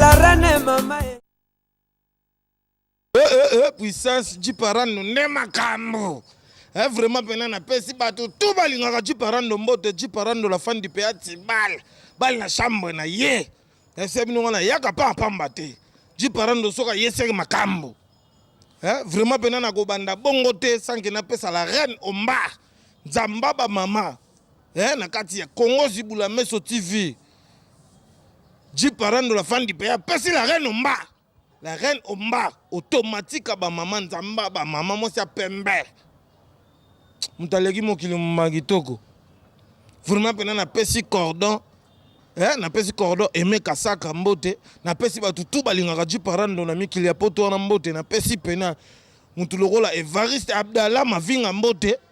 La reine mama eh. Eh, eh, eh, puissance jiparando nde makambo eh, vraiment mpena napesi bato tu balingaka jiparando mbote jiparando la fan du pea tibal bali na chambre na ye ese eh, bino wana yaka mpa mpamba te jiparando soki ayeseki makambo eh, vraiment mpena nakobanda bongo te sanke napesa la reine omba nzamba bamama eh, na kati ya congo zibula meso tv jiparando la fandi mpe apesi la reine omba la reine omba automatique ya bamama nzamba bamama mwasi ya pembe moto aleki mokili moma kitoko vraiment mpena napesi cordon eh, napesi cordon eme kasaka mbote napesi bato tu balingaka jiparando na mikili ya poto wana mbote napesi mpena motu lokola evariste abdala mavinga mbote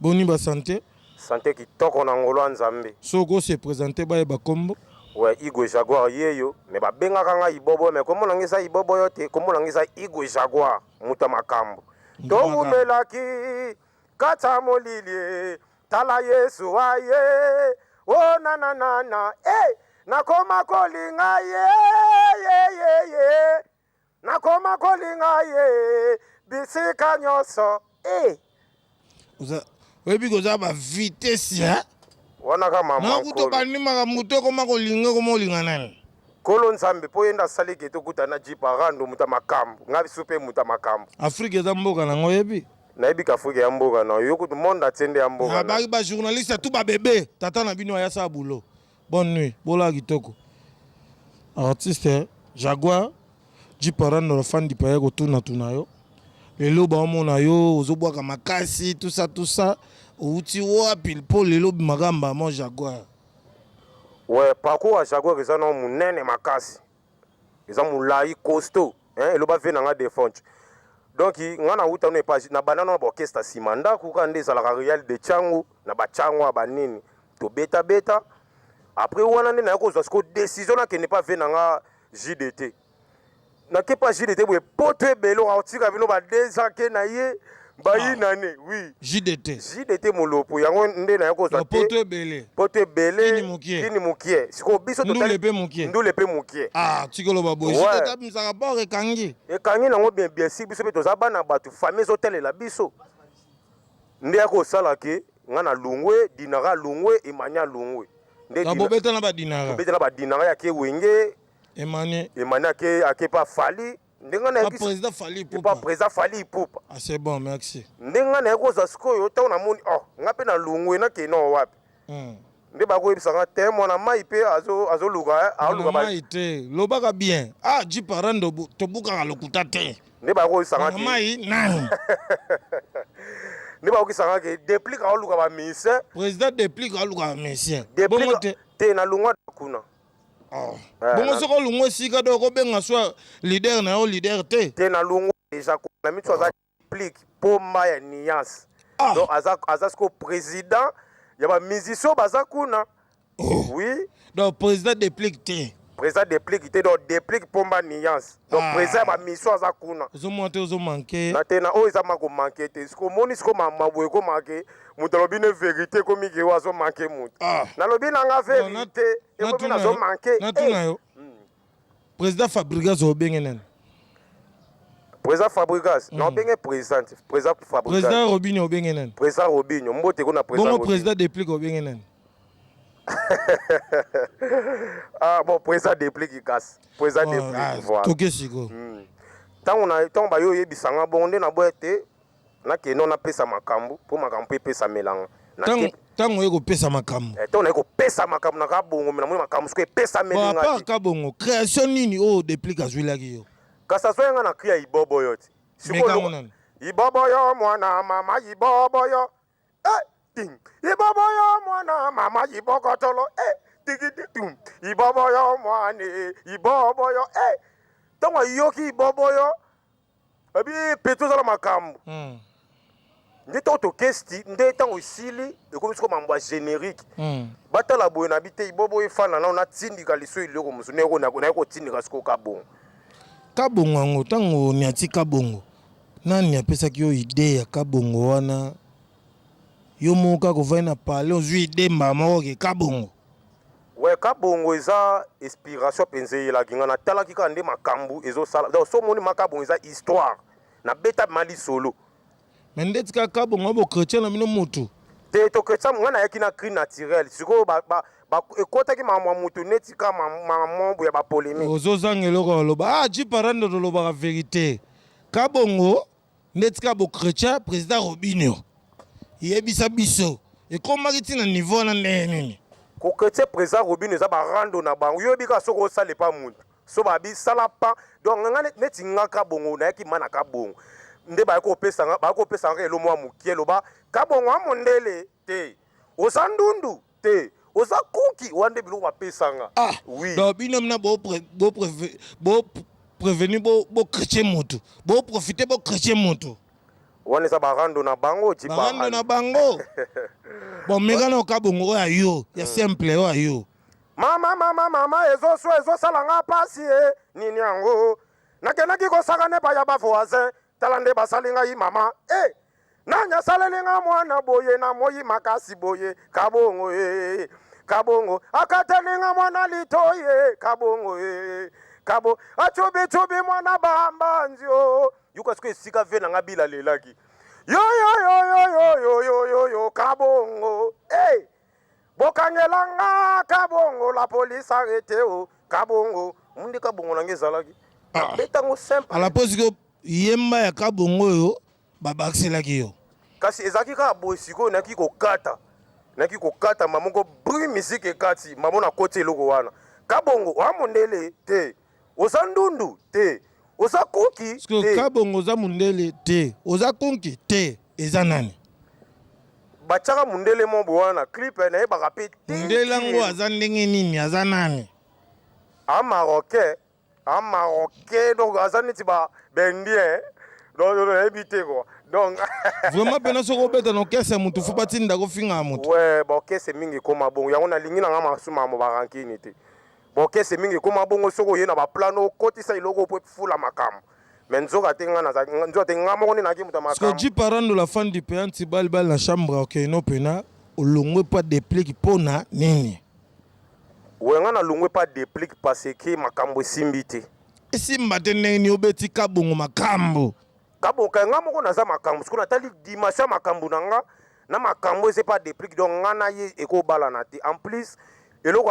Boni ba sante? Sante kitoko na ngolu ya Nzambe. Soki oko se presenter bayeba kombo. Ouais igwe jaguar yeyo mais ba bengaka nga ibobo mais kombo na nga eza ibobo yo te kombo na nga eza igwe jaguar mutu ya makambu towumelaki katsa molili tala yesu aye o oh, nananana e eh, nakoma kolinga ye ye ye ye nakoma kolinga ye bisika nyonso eh. oza oyebi koza ba vitesse ya wana ka mama na kuto bandimaka moto ekoma kolinga ekoma olinga nani kolo nzambe mpo yenda asali ke tokuta na jipa rando moto ya makambo ngai biso mpe moto ya makambo afrika eza mboka nango oyebi nayebi ka afrika ya mboka na yo kutu monde atie nde ya mboka nabaki bajournaliste ya tu babebe tata na bino ayasala bulo Bonne nuit, bola kitoko. Artiste Jaguar Jiparano la fan dipaya kotuna tuna yo. Lelo baomona yo ozobwaka makasi tout ça tout ça. Outi wapi mpo lelo bimaka mbamo Jaguar. Ouais, parcours ya Jaguar eza na munene makasi. eza mulayi costo hein eloba vie na nga defonch donc nga na wuta no epa na banana na orchestre sima ndaku ka nde ezalaka real de changu na ba changwa ba nini to beta beta après wana nde naye kozwa siko decision na kende pa vie na nga JDT na ke pa JDT boye poto ebele otika bino ba deux ans ke na ye bayi nane oui jdt jdt molopo yango nde naye kozwa te poto ebele poto ebele kini mukie kini mukie siko biso totali ndule pe mukie ndule pe mukie ah tikolo ba boye jdt abimsaka bor ekangi ekangi nango bien bien si biso pe toza bana batu famille zo talela biso nde ya kosala ke nga na lungwe dinara lungwe emania lungwe nde na bobeta na ba dinara bobeta na ba dinara ya ke wenge emani emani ake ake pa fali ndenge ah, nayebisi président Fally Ipupa pas président Fally Ipupa ah c'est bon merci ndenge nga naye kozwa sikoyo ntango namoni oh nga mpe nalungwe nakende no wapi hmm. nde bakoyebisa nga te mwana mai mpe azoluka eh, aluka mai te lobaka bien ah jipara tobukaka lokuta te nde bakoyebisa nga mai nani nde bakokisa nga ke deplique aoluka ba musicien président deplique aoluka ba musicien te nalungwa kuna Ah. Eh, bongo soki olungwa esika do okobenga swa leader na yo leader te te nalungwa deja na miso aza plique ah. pomba ya nuance ah. donc aza, aza siko président ya bamusicien baza kuna oh. oui donc président deplique te président deplique te donc deplique pomba nuance donc ah. president ya bamission aza kuna ozomona te ozo manke na te na oyo eza mako manke te siko omoni siko maboye ekomake moto alobi ne verité ekomi ke oyo azo manke moto ah. nalobi na nga verité ekomi nazo manke natuna eh. yo hmm. président fabrigas obenge nani président fabrigas hmm. na obenge président président fabrigas président robinho obenge nani président robinho mbote ko na président bongo président deplique obenge nani ah bon po eza depliki kasi po eza oh, depliki ah, voilà toke siko hmm. ntango na ntango baye oyebisa nga bongo nde naboya te nakende no napesa makambo mpo makambo mpe epesamelanga ntango oye kopesa makambo eh, ntango naye kopesa makambo na kabongo me namoni makambo soko epesamelingapart kabongo création nini oyo oh, deplike azwilaki yo kasi azwaki nga na kri ya ibobo yo ti ibobo yo mwana mama ibobo yo eh, ting ibobo yo mwana mama ibokotolo eh, tigi tum ibobo yo mwana ibobo yo eh ntango ayoki ibobo yo abi pete ozala makambo hmm. nde ntango tokesti nde ntango esili ekomi soko mambo ya générique hmm. batala boye na bi te ibobo efana nao natindika liso eloko mosusu naye kotindika soko kabongo kabongo yango ntango niati kabongo Nani apesaki yo idee ya kabongo wana? Yo moko kaka ovandi na palais ozwi idee mbala moko ke kabongo? Ouais kabongo eza inspiration penza eyelaki nga natalaki kaka nde makambu ezo sala donc so moni ma kabongo eza histoire na beta ma lisolo Mais ndeti kaka kabongo bo chretien na bino mutu. te to chretien nga nayaki na cri naturel sikoyo ba, ba, Ba ekotaki makambo ya mutu neti ka makambo ya ba polemique. Ozo zanga eloko ya loba. Ah Jeep Aranda tolobaka verite. Ka bongo nde tika bo chretien president Robinho. Yebisa biso ekomaki ti na niveau wana ndenge nini? Ko chretien president Robinho eza ba rando na bango. Yo bika soko osale pa mutu. So ba bi sala pa donc nga neti nga ka bongo na yaki mana ka bongo. Nde ba ko pesa nga ba ko pesa nga elo mwa mukie loba ka bongo a mondele. te oza ndundu te oza kuki wana nde biloko bapesanga ah, oui. donc bino mna bo, pre, bo, preve, bo prevenu bocretye bo motu boprofite bocretye motu wana eza barando na bango barando na bango bon meka na oka bongo oyo ayo ya hmm. simple oyo ayo mama mama mama ezoso ezosala nga mpasi e nini yango nakendaki kosaka nepa ya bavoisin tala nde basali ngai mama e eh! nani asaleli nga mwana boye na moyi makasi boye kabongo e eh, eh, kabongo akateli nga mwana litoyi e kabongo e kabo acubicubi mwana bambanzi o yuka siko esika ve na nga bilalelaki yoyoyoyoyoyoyoyo kabongo e bokangela nga kabongo la police arrete o kabongo mundi kabongo na nga ezalaki ah. abetango simple alaposi ko yemba ya kabongo oyo babakiselaki yo kasi ezalaki kaka boye sikoyo naki kokata naki kokata mamoko bri miziki ekati mamona koti eloko wana kabongo oya mondele te Oza ndundu te. Oza kunki te. Kabongo oza mundele te. Oza kunki te. Eza nani? Bachaka mundele mo boa na clip eh, na yebaka pe te. Mundele yango aza ndenge nini? Aza nani? A marocain, a marocain donc aza neti ba bendien. Eh. Donc nayebi te quoi. Donc vraiment pena soko obeta na orchestre ya mutu fo batinda kofinga ya mutu. Ouais, ba orchestre mingi ekoma bongo. Yango nalingi na nga masuma mo ba rankini te. Bokese mingi ekoma bongo soki oye na ba plan no okotisa eloko oyo po efula makambo. Mais nzoka te nga nazalaki nzoka te nga moko nde nazalaki moto ya makambo. Sikoyo Jeep Arando la fan du Pean ti bal bal na chambre okay no pena olongwe pa deplick po na nini? Oyo nga na longwe pa deplick pa ce que makambo esimbi te. Esimba te ndenge nini obeti kabongo makambo. Kabongo kay nga moko naza makambo sikoyo na tali dimension ya makambo na nga na makambo eza epa deplick donc nga na ye eko balana te en plus eloko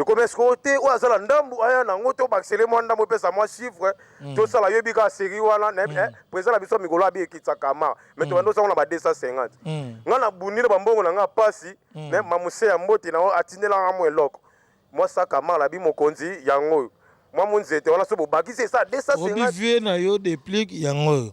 ekomi esiko te oyo aza na ndambu aya na yango tobakisele mwa ndambu epesa mwa chiffre mm. tosala yobi kaka série wana na mm. eh, président na biso ya mikolo abi ekitisa kama me mm. tobanda osango na ba 250 ngai nabundi na bambongo na ngai mpasi me mamuse ya mbote na atindelanga mwa eloko mwa sakama labi mokonzi yango oyo mwa monzete wana so bobakisi esa 250 na yo deplique yango oyo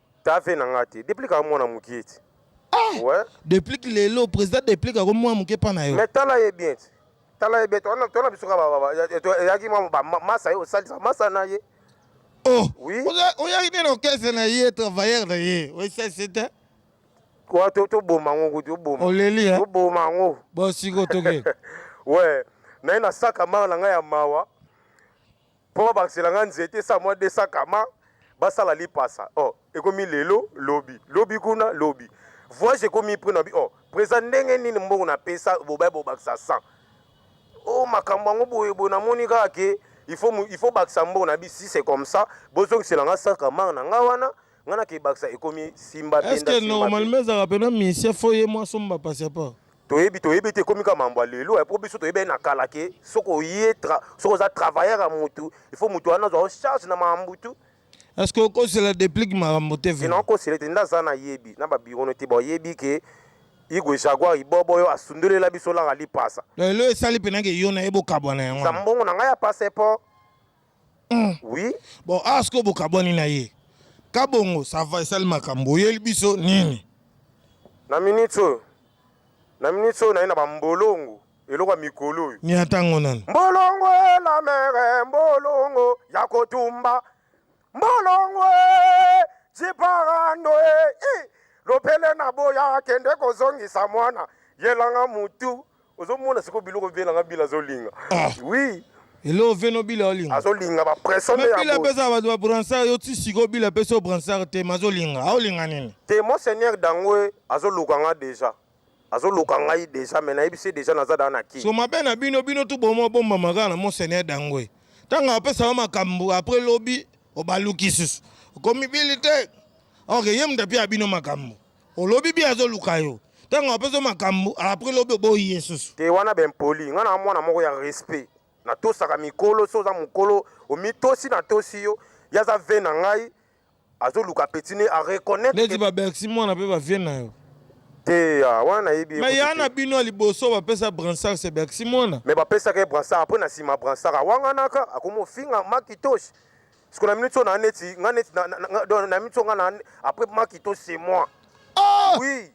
Ta vie na nga te. Deplick aza mwana mukie ti. Eh! Ouais. Deplick lelo president Deplick ako mwa mukie pa na yo. Mais tala ye bien ti. Tala ye bien. Tona tona biso ka ba ba. Yaki mwa ba masa yo salisa masa na ye. Oh. Oui. Oya ine no kese na ye travailleur na ye. Oui, c'est c'est. Kwa to to boma ngo kutu boma. Oleli hein. To boma ngo. Bo siko toke. Ouais. Na ina saka mara na nga ya mawa. Po babakisela nga nzete esa mwa 200 kama basala lipasa oh ekomi lelo lobi lobi kuna lobi voyage ekomi prix na bi oh presa ndenge nini mbongo na pesa bobaye bobakisa 100 oh makambo yango boye boye namoni kaka ke il faut il faut bakisa mbongo na bi si c'est comme ça bozongisela nga 100 kama na nga wana nga na kebakisa ekomi simba est ce que normalement ezalaka pena mise fo ye mwa somba passeport toyebi toyebi te ekomi kaka mambo ya lelo po biso toyebi na kala ke soki oye soki oza travailleur ya mutu il faut mutu wana azwa o charge na mambo tu est ce que okosela deplique makambo te vraimen okosela ete nde aza nayebi na babiro no te bayebi ke igwe jaguar ibobo oyo asundolela biso laka lipasa lelo esali mpenake yo na ye bokabwana yango mbongo na ngai ya passeport Hum. Oui. Bon, awa ah, sikoyo bokabwani na ye. Kabongo, ça va esali makambo. Oyeli biso nini? Na minute oyo. Na minute oyo na ye na bambolongo. eloko ya mikolo oyo ni atango nani mbolongo la mere mbolongo ya kotumba mbolongo jiparando e lopele na boya akende kozongisa mwana yelanga mutu ozomona sikoyo biloko vie na nga bila azolinga ah. oui eloko vie no bila olinga azolinga bapression nde bila apesa bato babransard yo ti sikoyo bila apesi yo bransard te ma azolinga aolinga nini te mon seigneur dangoe azoluka nga deja azoluka ngai deja me nayebisi ye deja naza daa na ki so mabe na bino bino tu bomo obombama kaka na mon seigneur dangoe ntango apesa yo makambo apres lobi obaluki susu okomi bili te ok ye moto apia bino makambo olobi bi azoluka yo ntango apesi yo makambo apres lobi oboyi ye susu te wana baimpoli ngai na mwana moko ya respect natosaka mikolo so oza mokolo omitosi natosi yo ye aza ve na ngai azoluka petit ne areconnaitre neti babebsi mwana mpe bavie na yo te ah, wana nayebi ye me kutu ya te. na bino ya liboso bapesa bransar se bebsi mwana me bapesaka ye bransard apres na nsima bransard awanganaka akomi ofinga makitosi Siko na minute oyo na neti nga neti na- na- na- donc na minute oyo nga na après makito c'est moi. Ah! Oui.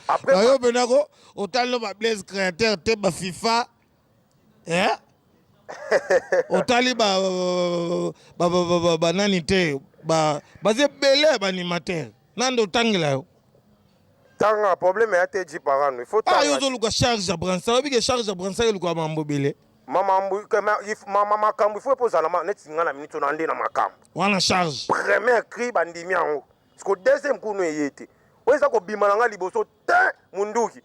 Après bayo mpena ko otali ba blaise créateur te ba fifa eh? otali ba- ba- ba- ba- ba- banani te ba- baza ebele ya baanimateur nande otangela yo Tanga problème ya te ji parano il faut tanga. Ah yo zo luka charge ya bransa oyebi ke charge ya bransa ke luka mambo bele. Mama mbu mama makambo il faut epoza na neti nga na minute na nde na makambo. Wana charge. Premier cri bandimi yango. Siko deuxième kunu eye te. Oyo eza kobima na nga liboso te munduki.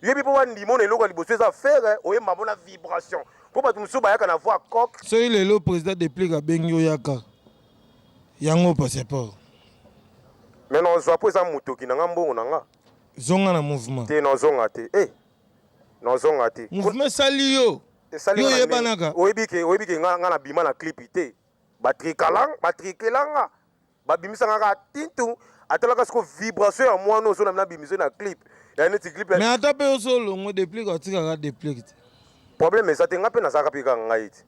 Yebi po bandimi ona eloko liboso eza ferre oye mabona vibration. Po bato mosusu bayaka na voix coq. Soki lelo président déplique abengi oyaka. Yango passeport. Mais non zwa po eza mutoki na nga mbongo na nga. Zonga na mouvement. Te non zonga te. Eh. Non zonga te. Mouvement sali yo. Esali yo yebanaka. Oyebi ke oyebi ke nga nga na bima na clip te. Ba trikalang, ba trikelanga. Ba bimisa nga ka tintu. Atalaka siko vibration ya mwana ozo na bimiso na clip. Ya neti clip. Mais ata pe ozo longo deplick atika ka deplick te. Problème eza te nga pe nazaka pe ka ngai te.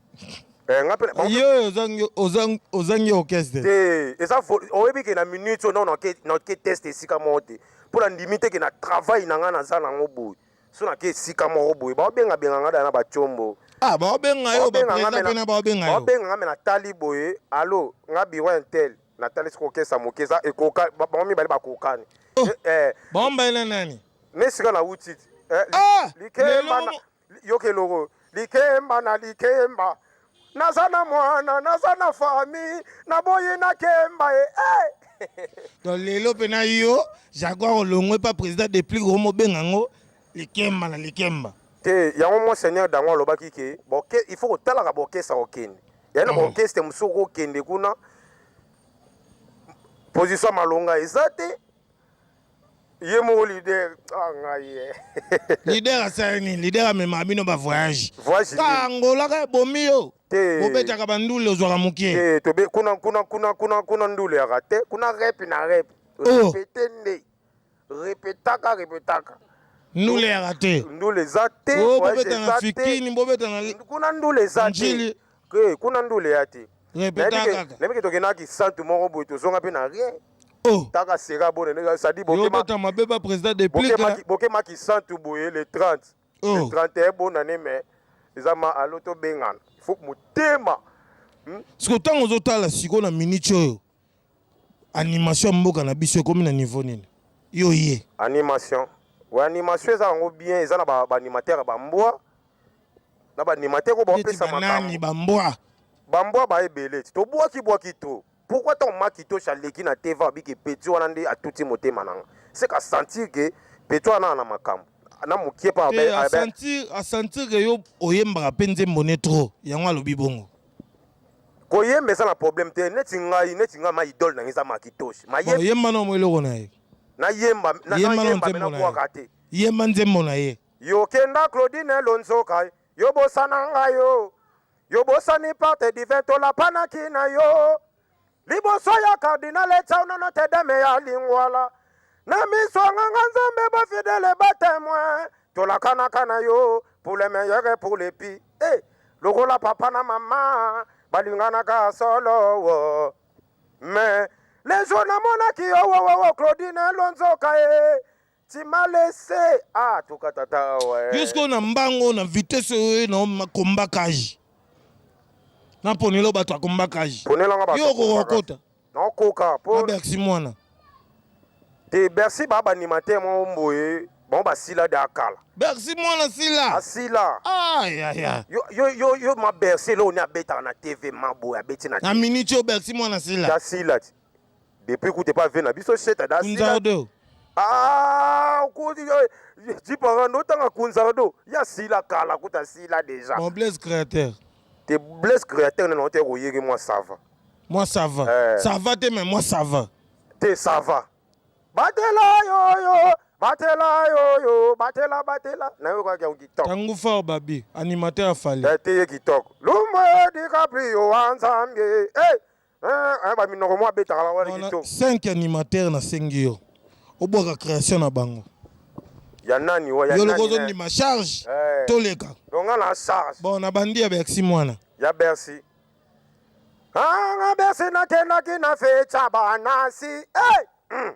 Eh, nga pe bon, yo ozangi ozangi ozangi orchestre te eza vol- oyebi ke na minute oyo nao nake nake test esika moko te mpo na ndimi te ke na travail na ngai naza nango boye so nake esika moko boye baobenga benga ngai da na bacombo ah baobenga yo baobenga ngai bapresa mpe na mena baobenga yo baobenga ngai me natali boye alo ngai biro ya intel natali soki okesa moke eza ekoka ba- bango mibale bakokani Oh. Eh, eh, baombaela nani ne sika nauti ti Eh, li- ah likemba lelo na- Yoka eloko likemba na likemba naza na mwana naza na famille naboyi na kemba e eh. to lelo mpe na yo jaguar olongwe mpa président de plus gros mobenga yango likemba na likemba te yango monseigneur dango alobaki ke boke il faut kotalaka bokesa kokende yaye na baorkestre mosusu okokende kuna position malonga eza te ye moko leader ah ngai ye leader asala nini leader amemaka bino ba voyage voyage ka angola ka bomi yo te bobetaka ba ndule ozwaka mokie te tobe kuna kuna kuna kuna kuna ndule ya rate kuna rep na rep oh. repete nde repetaka repetaka ndule ya rate ndule eza te oh, bobeta na fikini bobeta na kuna ndule eza te Hee kuna ndule ya te. Répète Nayebi ke- kaka. nayebi ke tokendaka kisantu moko boye tozonga mpe na rien Oh, taka seka bone ndenge sadi yo bokema bota mabe ba président de plique bokema là. ki- bokema kisantu boye le 30 Oh. le 31 bonane mais eza ma alo tobengana faut motema Siko tango ozotala siko na minute oyo. animation ya mboka na biso ekomi na niveau nini yo ye animation we animation eza yango bien eza na baanimateur ba bambwa na baanimateur oyo bapesa makambo bambwa bambwa ba ebele ti tobwaki bwaki to pourquoi ntango makitoshi aleki na tv abiki peti wana nde atuti motema nanga seka sentir ke peti wana na na makambo na mokie pa asentir ke yo oyembaka mpe nzembo ne trop yango alobi bongo Koyemba eza na problème te neti ngai neti ngai ma idole na ngai eza makitoshi ma yemba yemba na mo eloko na ye na yemba na yemba na nzembo na ye te yemba nzembo na ye yo kenda Claudine Lonzoka yo bosana ngai yo yo bosani parte divin tolapana ki na yo liboso ya cardinal etsaunana tedeme ya lingwala na miso ya nganga nzambe bafidele batemoin tolakanaka na yo pour le meilleur et pour le pire hey, lokola papa na mama balinganaka solo wo mais les jour namonaki yo wowowo claudine elonzoka ye Tu m'as laissé. Ah, toka tata awa. eh. Yo sikoyo na mbango oyo na vitesse oyo na ma combat cage na ponelo bato ya combat cage Ponela nga bato. yo okoka kota Nakoka po abersi mwana te Bercy ba ba animateur mo mboye bango basila da kala. bersi mwana sila Asila. ayaya Yo yo yo yo ma Bercy lo ni abetaka na TV ma boye abeti na na minute oyo bersi mwana sila Asila. ti. Depuis kutu epa vie na biso sheta da sila. Kunzardo. Ah, okoti jiparando otanga kunzardo ya sila kala kuta sila deja. Bon Blaise créateur. Te Blaise créateur nana ote koyege mwa sava. Mwa sava. Eh. Sava te mais mwa sava. Te sava. Batela yo yo, batela yo yo, batela batela. Na yo kwa kia kitoko. Tangu fort babi, animateur ya fali. Te ye kitoko. Lumba DiCaprio anzambe. Eh. Hey. Eh, eh, ba minoko mwa betaka ba wala Wana kito. 5 animateur na sengi yo obwaka création na bango Ya nani wa ya yo loko nani. eh. ozondima charge Eh. toleka Donc nga na charge bon na bandi ya berxi mwana ya Bercy. Ah, nga Bercy nakendaki na fecha banasi. Eh! Mm.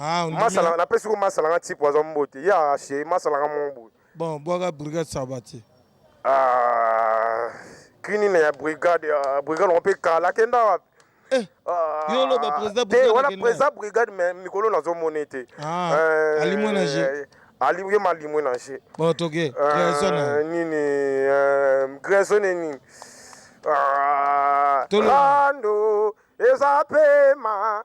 Ah, ondimi- masala na pesi ko masala nga tipo aza mbote ya chez masala nga mon boy bon bwaka brigade sabati ah kini na ya brigade ah, brigade on peut kala kenda wapi Eh, Ah, yo oloba président te, brigade wana akenda. président brigade mais mikolo nazo mone te Ah, Euh, alimwe na jeu. ali ye malimwe na je bon toke création na yo. nini euh, grèce ne nini Ah, Tolo. rando eza pema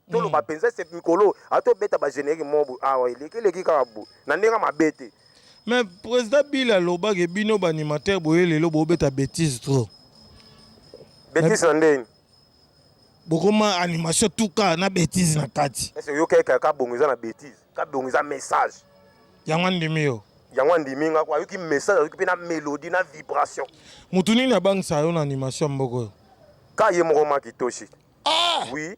toloba mm. mpenza se mikolo oyo atobeta bagenerique mobu awa ah eleki eleki kaka bo na ndenge mabe te mais président bila alobaki bino baanimateur boye lelo bobeta bétise trop bétise na ndeni bokoma animation tuka na bétise na kati ese oyokaki kaka bongo eza na bétise ka bongo eza message yango andimi yo yango andimi nga ko ayoki message ayoki mpe na mélodie na vibration motu nini abangisa yo na animation mboko oyo ka ye moko makitoshi ah! oui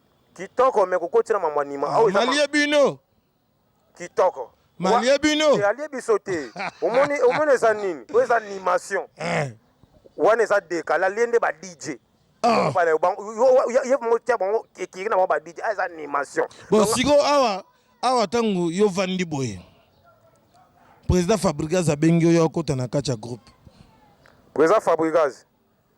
Kitoko me kokoti na mambo anima. Ah, ah, malie bino. Kitoko. Malie bino. Eh, alie biso te. Omoni omoni eza nini? Oyo eza animation. Eh. Wana eza deka. La liende ba DJ. Ah. Bana bango yo yo mo tia bango ekiri na ba DJ. Eza animation. Bon siko awa awa tangu yo vandi boye. Président Fabrigaz abengi yo okota na kati ya groupe. Président Fabrigaz.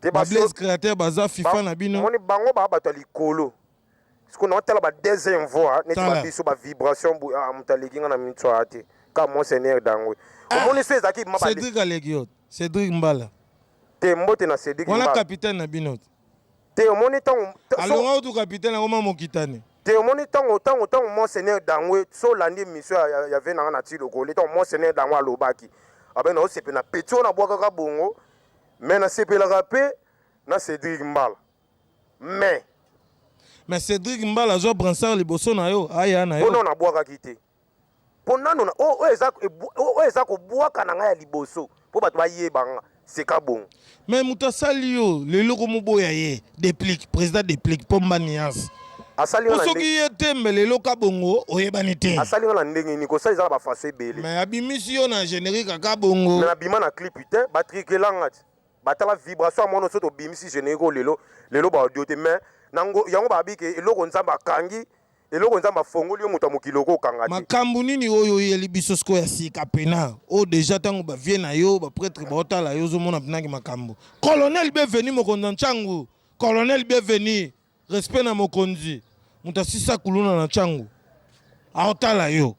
te ba blaise createur baza fifa na bino moni bango ba bato ya likolo siko na otala ba deuxième voix neti ba biso ba vibration bu ah, moto aleki nga na minute soya te ka monseigneur dangwe ah, omoni so ezalaki ma cédric aleki yo cédric mbala te mbote na cédric wana capitaine na bino te Te omoni ntango alonga kutu kapitene yango ma mokitani te omoni ntango ntango ntango monseigneur dangwe so olandi emission ya, ya, ya ve nanga na tilo koli ntango monseigneur dangwe alobaki abe naosepe na peti oyo nabwakaka bongo me nasepelaka mpe na cédric mbala me me cédric mbala azwa bransard liboso na yo aya na yo mpo nabwakaki te mpo nano oyo eza, oyo eza kobwaka na ngai ya liboso mpo bato bayeba nga seka bongo me moto asali yo lelo komoboya ye deplique président deplique mpo mba niance asali nga na soki ndenge ye te mbe lelo ka bongo oyebani te asali nga na ndenge nini kosala eza na bafaso ebele me abimisi yo na générique aka bongo me nabima na clip te batrikela nga ti batala vibration ya mwana oso tobimisi générique oyo lelo lelo baaudio te me nango yango babi ke eloko nzambe akangi Eloko nzambe afongoli yo moto ya mokili oko kanga te. Makambu nini oyo oyeli biso siko ya sika pena o deja tango ba vie na yo ba pretre ba otala yo ozomona pena ki makambu colonel bienvenu mokonzi na nchangu colonel bienvenu respect na mokonzi moto asisa kuluna na nchangu aotala yo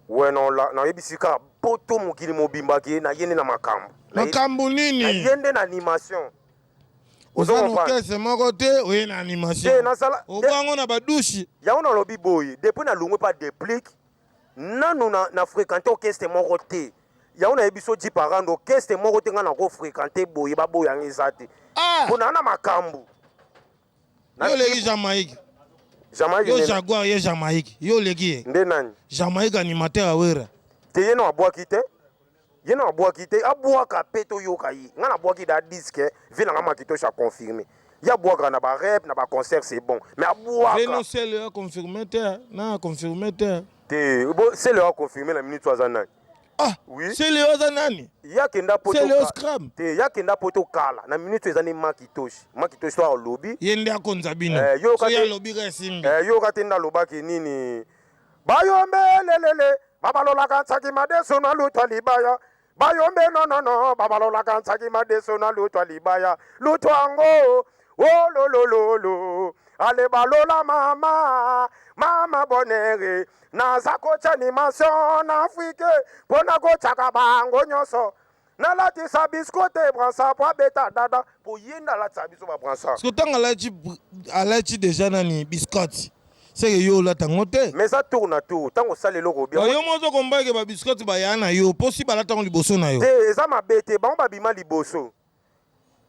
we na oyebisi kaka poto mokili mobimba ke na yende na makambu makambu nini na yende na animation Oza na Ozokomprendre? orchestre moko te oye na Te, animation nasala- obwango na badushe yango nalobi boye depuis nalongwe mpa deplic nanu na, na fréquente orchestre moko te yango nayebi so ji parando orchestre moko te ngai nako fréquente boye baboyanga eza te Ah! mpo naa na makambo Yo oleki Jamaïque. Jamaïque. Yo Jaguar, yo Jamaïque. Yo oleki ye. Nde nani? Jamaïque animateur ya Wera. Te ye no abwaki te. Ye no abwaki te. Abwaka pe toyoka ye. Nga nabwaki da disque. Vie na nga makitoshi a confirme. Ye abwaka na ba rep, na ba concert c'est bon. Mais abwaka. Vie no selo ya confirme te. Na confirme te. Te. Bo selo ya confirme na minute aza nani? Ah, oui. Sele oza nani? Ya kenda poto. Sele o scram. Te ya kenda poto kala. Na minute eza ni makitoshi. Makitoshi to alobi. Ye nde akonza bino. Eh, yo kate. So ya lobi ka simbi. Eh, yo kate nda lobaki nini? Bayombe lelele. Babalola kansaki madeso na lutwa libaya. Bayombe no no no. Babalola kansaki madeso na lutwa libaya. Lutwa ngo. Oh lo lo lo lo. Ale balola mama. Mama bonere. naza kotya animation na afrike mpo na kotyaka bango nyonso nalatisa bisko te bransa mpo abeta dada mpo ye nde alatisa biso babransa siko ntango alati alati deja nani biscotte seke yo olata yango te mais eza tour na tour ntango osala eloko obi yo moko ozo kombake babiscotte baya na yo mpo si balata yango liboso na yo te eza mabe te bango babima liboso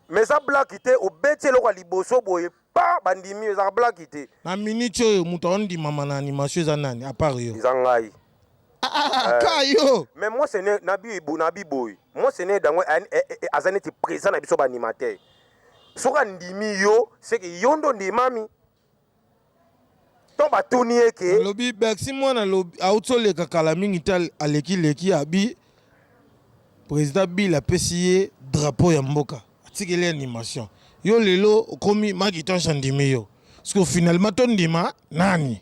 mais eza blaki te obeti eloko ya liboso boye pa bandimi ezaka blaki te na minute oyo moto aondimama na animation eza nani apart yo eza ngai ah, ah, ah, eh. ka yo mais moi ce n'est na bibo na biboy moi ce n'est dango eh, eh, aza neti présent na biso ba animateur soki andimi yo seke yo ndo ndimami to batuni ye ke alobi bercy mwana alobi auti oleka kala mingi te al- aleki leki abi président bill apesi ye drapeau ya mboka atikeli ye animation yo lelo okomi makitonche andimi yo siko finalement tondima nani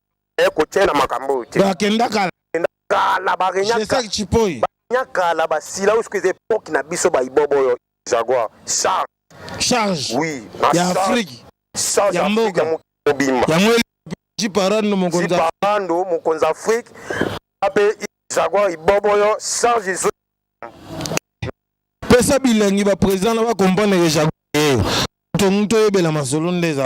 ekotia na makambo oyo te akenda kala kala barenyaka chipoi nyakala basila oyo soki epoki na biso baibobo oyo jaguar charge charge oui ya afrique charge ya mboka mobimba yango jiparando mokonzi jiparando mokonzi afrique ape jaguar ibobo oyo charge ezo pesa bilengi ba président na ba comprendre que jaguar ye to muto yebela masolo nde eza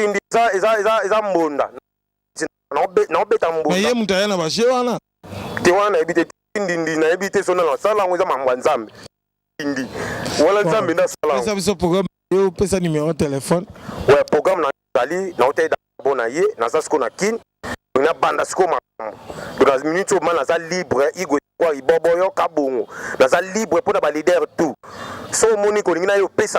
Kindi eza eza eza eza mbonda. Na obeta mbonda. Mais ye mutu aya na ba jeu wana. Te wana nayebi te kindi ndi nayebi te sona na sala ngo eza mambo nzambe. Kindi. Wala nzambe na sala. Pesa biso programme yo pesa numéro téléphone. Ouais programme na zali na otela bona ye naza siko na kin na banda siko makambo na minute oyo ma naza libre igwe kwa ibobo yo kabongo naza libre mpo na balider tout so omoni kolingi na yo opesa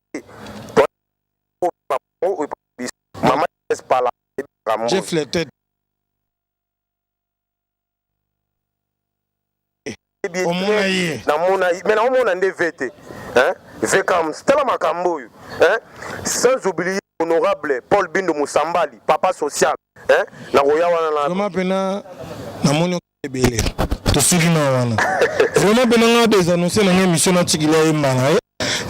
Jeff le tête. omona ye namona ye me naomona nde ve te vekams tala makambo oyo sans oublier honorable paul bindo mosambali papa social nakoya wana na mpena namoni ebele tosili na wana vraiment pena nga desanonse na nga émission natikila ye mbala ye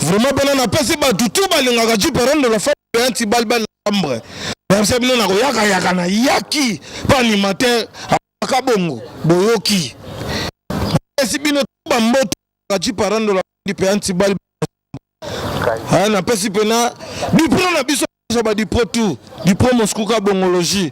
vraiment pena napesi bato tu balingaka ju parent de la femme ya ntibali bana chambre nayebisa bino na koyakayaka na yaki mpo animateur aka bongo boyoki napesi bino tu bamboto ju parent de la femme mpe ya ntibali ah, napesi pena dipro na biso ba dipro tout dipro moskuka bongologie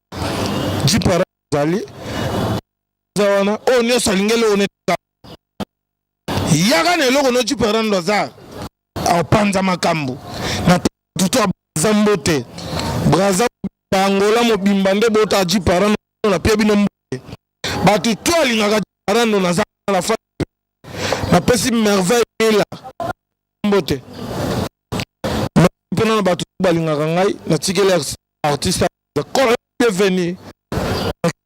jipara ezali za wana oyo nyonso alingeli one yaka na eloko no jipara ndo aza apanza makambo na tutu aza mbote braza bangola mobimba nde bota jipara na pie bino mbote bato to alingaka jipara ndo naza na fa napesi merveille ela mbote mpona na bato balingaka ngai natikeli artiste ekolo bienvenue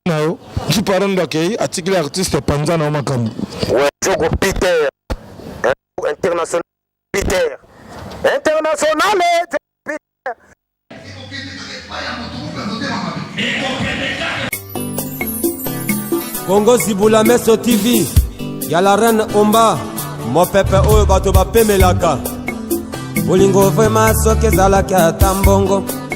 na yo jiparondo akei atikili artiste epanza na yo makambo wejogo peter international peter international peter kongo zibula meso tv ya la reine omba mopepe oyo bato bapemelaka bolingo vrema soki ezalaki ata mbongo